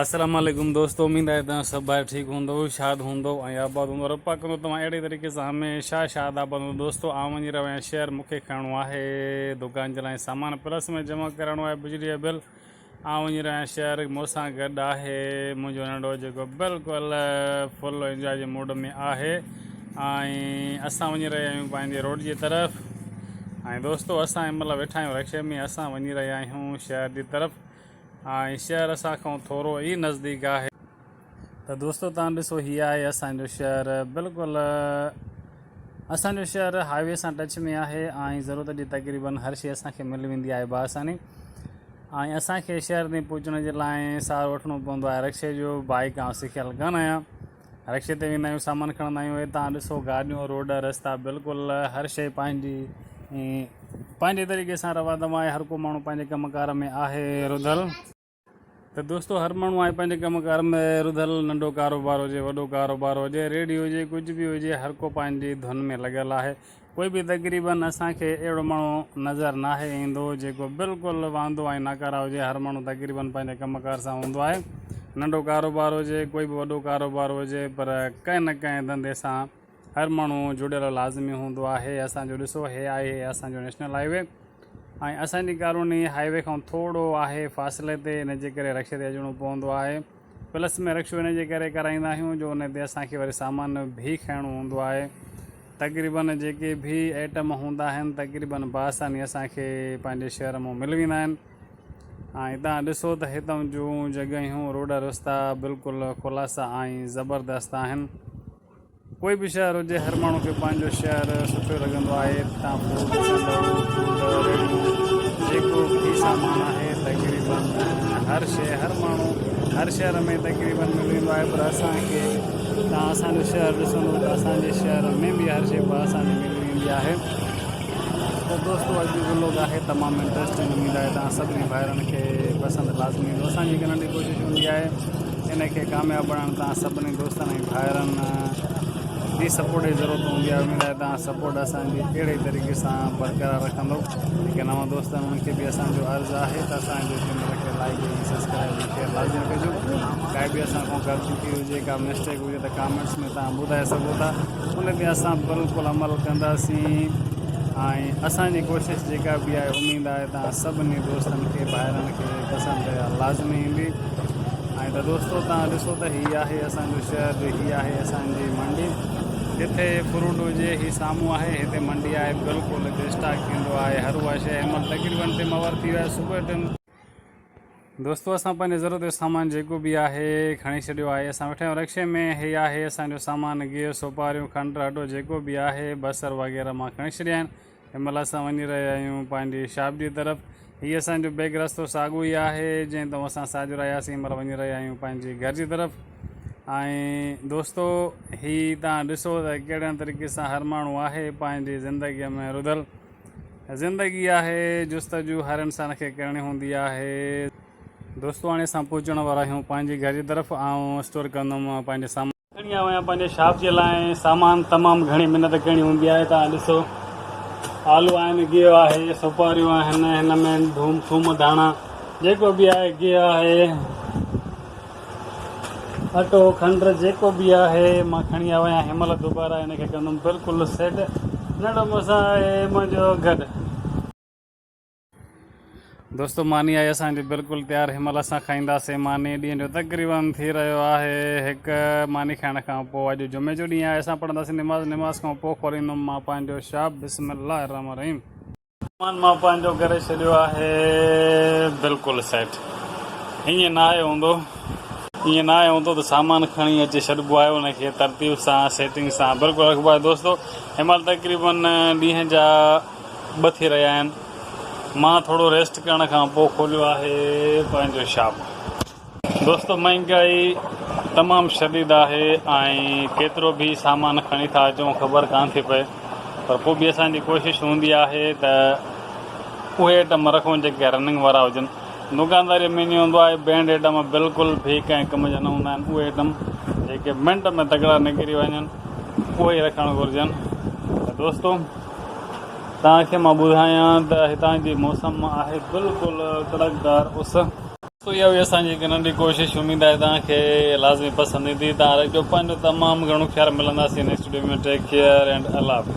السلام عليڪم دوستو اميد آهي توهان سڀ ڀائر ٺيڪ هوندو شاد هوندو ۽ آباد هوندو رب پاڪ ڪندو توهان اهڙي طريقي سان هميشه شاد آباد هوندو دوستو آئون وڃي رهيو آهيان شهر مونکي کڻڻو آهي دڪان جي لاء سامان پلس ۾ جمع ڪرائڻو آهي بجلي جو بل آئون وڃي رهيو آهيان شهر مونسان گڏ آهي منهنجو ننڍو جيڪو بلڪل فل انجوائي جي موڊ ۾ آهي ۽ اسان وڃي رهيا آهيون پنهنجي روڊ جي طرف ۽ دوستو اسان هن مهل ويٺا آهيون رڪشي ۾ اسان وڃي رهيا آهيون شهر جي طرف ۽ شهر اسان کان ٿورو ئي نزديڪ آهي. ته دوستو تان ڏسو هي آهي اسان جو شهر بلڪل اسان جو شهر هاء وي سان ٽچ ۾ آهي ۽ ضرورت جي تقريبن هر شي اسان کي ملي ويندي آهي بآساني ۽ اسان کي شهر تائين پهچڻ جي لاء سهارو وٺڻو پوندو آهي رڪشي جو بائيڪ آئون سکيل ڪانه آهيان. رڪشي تي ويندا آهيون سامان کڻندا آهيون هتان ڏسو گاڏيون روڊ رستا بلڪل هر شئي پنهنجي پنهنجي طريقي سان روا دوا آهي هر ڪو ماڻهو پنهنجي ڪم ڪار ۾ آهي رڌل ته دوستو هر ماڻهو آهي پنهنجي ڪم ڪار ۾ رڌل ننڍو ڪاروبار هجي وڏو ڪاروبار هجي ريڙهي هجي ڪجهه به هجي هر ڪو پنهنجي ڌن ۾ لڳل آهي پوء به تقريباً اسان کي اهڙو ماڻهو نظر ناهي ايندو جيڪو بلڪل واندو ۽ ناڪاره هجي، هر ماڻهو تقريباً پنهنجي ڪم ڪار سان هوندو آهي، ننڍو ڪاروبار هجي ڪوئي به وڏو ڪاروبار هجي پر ڪنهن نه ڪنهن ڌنڌي سان هر ماڻهو جڙيل لازمي هوندو آهي، اسان جو ڏسو هي آهي اسان جو نيشنل هاء وي ۽ اسان جي ڪالوني هاء وي کان ٿورو آهي فاصلي تي ان جي ڪري رڪشي تي اچڻو پوندو آهي. پلس ۾ رڪشو ان جي ڪري ڪرائيندا آهيون جو ان تي اسان کي وري سامان به کڻڻو هوندو آهي تقريباً جيڪي به آئٽم هوندا آهن تقريباً بآساني اسان کي پنهنجي شهر مون ملي ويندا آهن ۽ تان ڏسو ته هتان جون جڳهيون روڊ رستا بلڪل خلاصا ۽ زبردست آهن ڪوئي به شهر هجي هر ماڻهو کي پنهنجو شهر سٺو لڳندو آهي تان پوء ڏسندؤ ته ريڙهيون جيڪو به سامان آهي تقريباً هر شيء هر ماڻهو هر شهر ۾ تقريباً ملي ويندو آهي پر اسان کي تان اسان جو شهر ڏسندؤ ته اسان جي شهر ۾ به هر شيء بآساني ملي ويندي آهي ته دوستو اڄ جو لوگ آهي تمام انٽرسٽنگ اميد آهي تان سڀني ڀائرن کي پسند لازمي ايندو اسان جي ڪنن جي ڪوشش هوندي آهي ان کي ڪامياب بڻائڻ توهان سڀني دوستن ۽ ڀائرن جي سپورٽ جي ضرورت هوندي آهي اميد آهي توهان سپورٽ اسان جي اهڙي طريقي سان برقرار رکندو جيڪي نوان دوست آهن انهن کي به اسان جو عرض آهي ته اسان جي چينل کي لائيڪ ۽ سبسڪرائيب ۽ شيئر لازمي ڪجو ڪا به اسان کان غلطي ٿي هجي ڪا مسٽيڪ هجي ته ڪامينٽس ۾ توهان ٻڌائي سگهو ٿا ان تي اسان بلڪل عمل ڪنداسين ۽ اسان جي ڪوشش جيڪا به آهي اميد آهي توهان سڀني دوستن کي ڀائرن کي پسند لازمي ايندي ائين ته دوستو توهان ڏسو ته هي آهي اسان جو شهر ۽ هي آهي اسان جي منڊي جتي فروٽ هجي. هي سامهون آهي هتي منڊي آهي بلڪل هتي اسٽاڪ ٿيندو آهي هر اها شيء هن مهل تقريبن تي مور ٿي ويو آهي صبح ٽن دوستو اسان پنهنجي ضرورت جو سامان جيڪو به آهي کڻي ڇڏيو آهي اسان ويٺا آهيون رڪشي ۾ هي آهي اسان جو سامان گيهه سوپاريون کنڊ اٽو جيڪو به آهي بصر وغيره مان کڻي ڇڏيا آهن. هن مهل اسان وڃي رهيا آهيون پنهنجي شابديء طرف. هي اسان جو بيگ رستو ساڳيو ئي آهي، جنهن تئون اسان ساجهرا آياسين. هن مهل وڃي رهيا آهيون پنهنجي گهر جي طرف. ۽ دوستو! هي توهان ڏسو ته ڪهڙن طريقي سان هر ماڻهو آهي پنهنجي زندگيء ۾ رڌل. زندگي آهي، جستجو هر انسان کي ڪرڻي هوندي آهي. دوستو! هاڻي اسان پهچڻ وارا آهيون پنهنجي گهر جي طرف. آئون اسٽور ڪندم پنهنجي سامان. کڻي آيو آهيان پنهنجي شاپ جي لاء ۽ سامان تمام گهڻي محنت ڪرڻي هوندي آهي توهان ڏسو آلو آهن گيهه آهي سوپاريون آهن هن ۾ ڌوم ٿوم ڌاڻا جيڪو به آهي گيهه آهي اٽو کنڊ جيڪو به آهي مان کڻي آيو آهيان هن مهل دوباره هن کي ڪندم بلڪل سيٽ ننڍو مون سان آهي منهنجو گڏ دوستو ماني آهي اسان جي بلڪل تيار هن مهل اسان کائينداسين ماني ڏينهن جو تقريبن ٿي رهيو آهي هڪ ماني کائڻ کان پوء اڄ جمعي جو ڏينهن آهي اسان پڙهنداسين نماز نماز کان پوء کوليندم مان پنهنجو شاپ بسم الله الرحمن الرحيم سامان مان پنهنجو ڪري ڇڏيو آهي بلڪل سيٽ ائين نه آيو هوندو ائين نه آيو هوندو ته سامان کڻي اچي ڇڏبو آهي ان کي ترتيب سان سيٽنگ سان بلڪل رکبو آهي دوستو هن مهل تقريبن ڏينهن جا ٻه ٿي رهيا آهن مان ٿورو ريسٽ ڪرڻ کان پوء کوليو آهي پنهنجو شاپ. دوستو مهانگائي تمام شديد آهي ۽ ڪيترو به سامان کڻي ٿا اچون خبر ڪانه ٿي پئي پر پوء به اسان جي ڪوشش هوندي آهي ته اهي ائٽم رکون جيڪي رننگ وارا هجن دوڪانداري ۾ ائين هوندو آهي بينڊ ائٽم بلڪل به ڪنهن ڪم جا نه هوندا آهن اهي ائٽم جيڪي منٽ ۾ تڪڙا نڪري وڃن اهي ئي رکڻ گهرجن ته دوستو توهان کي مان ٻڌايان ته هتان جي موسم آهي بلڪل ڪڙڪدار اس. سو اها هئي اسان جي هڪ ننڍي ڪوشش اميد آهي توهان کي لازمي پسند ايندي. توهان رکجو پنهنجو تمام گهڻو خيال ملنداسين next video ۾ take care and الله حافظ.